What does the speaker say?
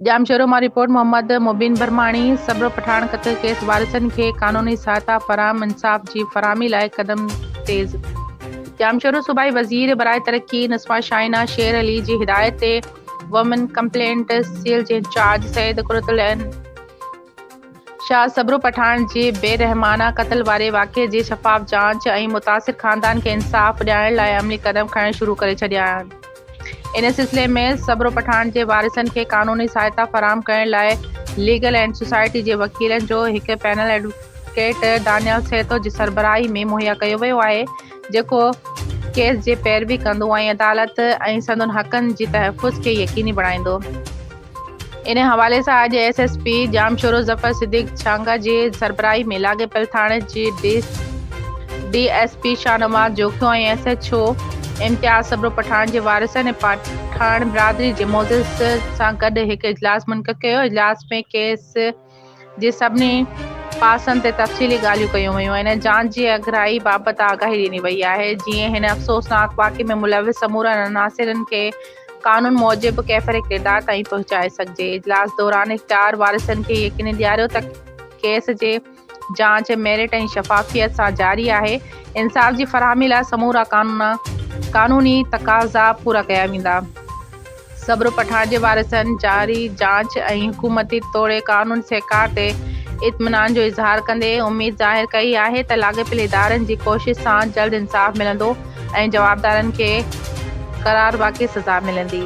ڄامشورو مان رپورٽ محمد مبين برماڻي، سبڙو پٺاڻ قتل ڪيس وارثن کي قانوني سهائتا فراهم انصاف جي فراهمي لاء قدم تيز. ڄامشورو صوبائي وزير برائي ترقي نسما شاهينه شير علي جي هدايت تي وومن ڪمپلينٽ سيل جي انچارج سيد قرتالعين، شاهه صبرو پٺاڻ جي بي رحمانه قتل واري واقعي جي شفاف جاچ ۽ متاثر خاندان کي انصاف ڏيارڻ لاء عملي قدم کڻڻ شروع ڪري ڇڏيا آهن ان سلسلي ۾ صبرو پٺاڻ جي وارثن کي قانوني سهائتا فراهم ڪرڻ لاء ليگل ايڊ سوسائٽي جي وڪيلن جو هڪ پينل ايڊووڪيٽ دانيال سهتو جي سربراهي ۾ مهيا ڪيو ويو آهي جيڪو ڪيس جي پيروي ڪندو ۽ عدالت ۽ سندن حقن جي تحفظ کي يقيني بڻائيندو ان حوالي سان اڄ S S P Jamshoro Zafar Siddique Chhanga جي سربراهي ۾ لاڳيپيل ٿاڻي جي D S P Shahnawaz Jokhio ۽ S H O Imtiaz Sabro Pathan جي وارثن ۽ پٺاڻ برادري جي معزز سان گڏ هڪ اجلاس منعقد ڪيو اجلاس ۾ ڪيس جي سڀني پاسن تي تفصيلي ڳالهيون ڪيون ويون آهن ۽ جان جي اڳرائي بابت آگاهي ڏني وئي آهي جيئن هن افسوسناڪ واقعي ۾ ملوث سمورن عناصرن کي قانون موجب ڪيفر ڪردار تائين پهچائي سگهجي اجلاس دوران اختيار وارثن کي يقيني ڏياريو ته ڪيس جي جاچ ميرٽ ۽ شفافيت سان جاري آهي انصاف جي فراهمي لاء سمورا قانوني تقاضا پورا ڪيا ويندا. صبر پٺاڻ جي وارثن جاري جاچ ۽ حڪومتي توڙي قانون سهڪار تي اطمينان جو اظهار ڪندي اميد ظاهر ڪئي آهي ته لاڳاپيل ادارن جي ڪوشش سان جلد انصاف ملندو ۽ جوابدارن کي قرارواقعي سزا ملندي.